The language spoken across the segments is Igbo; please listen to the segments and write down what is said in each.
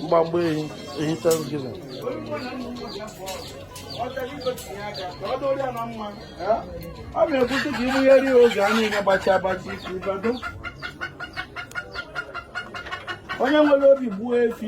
mgbamgba ehi ehi thanksgiving ọ na-ekwute ka ịbụgheri ya oge a niile gbachi agbachi isi ụbado onye nwere obi gbuo efi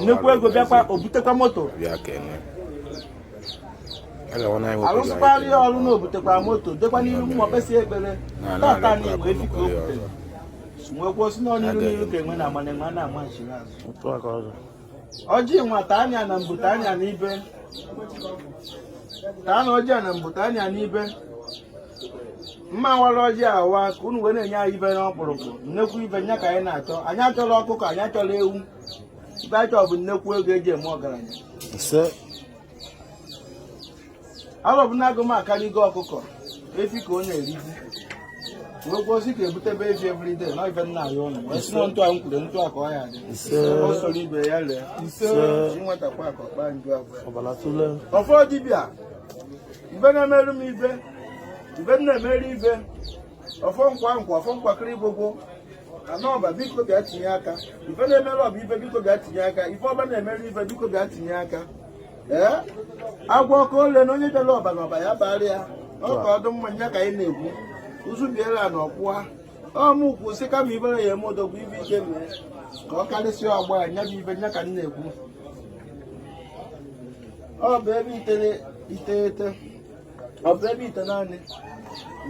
nnukwu ego bịakwa o butekwa moto arụsịkwara ya ọrụ na o butekwa moto dekwa n'iru mmụọ kpesie ekpere taata nnekwu efi ka o butere m wee kwuo sị na ọ n'iru n'iru ka enwe na-ama na enwe ana ama nchiri azụ ọjị nwata anya na mbute anya na ibe taa na ọjị a na mbute anya na ibe m awarọ ọjị awa ka unu wee na-enye anyị ife n'ọkpụrụkpụ nnekwu ife nya ka anyị na-achọ anyị achọrọ ọkụkọ anyị achọrọ ewu ife anyị chọrọ bụ nnekwu ego e ji eme ọgaranya ise Arọbụnagụ m akarịgo ọkụkọ efi ka ọ na-erizi wee kwuo sị ka e butebe efi everyday na ife nna ya ụlọ wee sị na etu a m kwuru etu a ka ọ ya-adị ise ọ soro ibe ya ree ise Ise. inwetakwa ka ọkpa nju abụọ ọbara tụle ọfọ dibịa ife na-emere m ife ife m na-emere ife ọfọ nkwa nkwa ọfọ nkwakịrị gbogbo anọba biko bịa tinye aka ife na-emere ọba ife biko bịa tinye aka ife ọba na-emere ife biko bịa tinye aka ee agwa ọkụ ole na onye bịara ọba na ọba ya-abara ya ọ ka ọdịmma nya ka anyị na-ekwu ụzụ biela na ọkwụwa ọ mụ kwuo sị kama ifere ya-eme odogwu ife ike mee ka ọ karịsịa ọgbọ ya nya bụ ife nya ka m na-ekwu ọ bụ ebe iteghete ọ bụ ebe itenaanị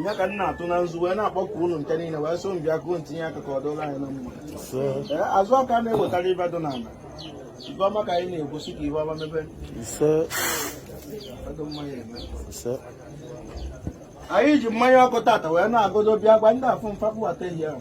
ya ka m na-atụ na nzu wee na-akpọku unu nke niile wee sị unu bịakọọ tinye aka ka ọ dụlụ anyị na mma azụ aka na-ewetara ife dị n'ala ife ọma ka anyị na-ekwu sị ka ife ọma mebe anyị ji mmanya ọkụ taata wee na-agọdo bịa gwa ndị afụ fa kpụbata ehi ahụ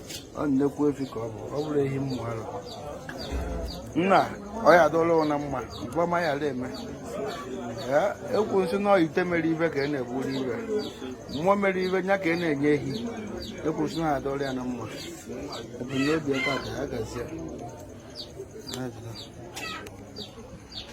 ọ nnekwu efi ka ọ bụ ọ bụrọ ehi mmụ ara na ọ ya-adụlụ ya na mma mgbama ya ala eme ekwu m sị na ite mere ife ka a na-egburu ehi mmụọ mere ife nya ka a na-enye ehi ekwu m sị na ya adụlụ ya na mma ebumnobi ebe a ka ya gazie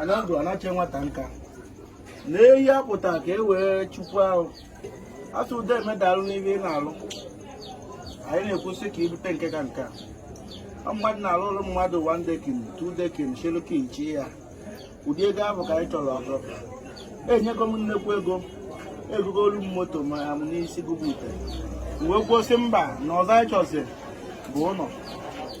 anandụ anache nwata nka na ehi apụta ka e wee chukwu ahụ asụ ụda i mee daalụ n'ihe ị na-alụ anyị na-ekwu sị ka i bute nke ka nke a mmadụ na-alụ ụlọ mmadụ one decking two decking si ekele chi ya ụdị ego ahụ ka anyị chọrọ ọzọ i nyego m nnekwu ego i gogoolu m moto ma ya m n'isi gụbụ ite wee kwuo sị mba na ọzọ anyị chọziri bụ ụlọ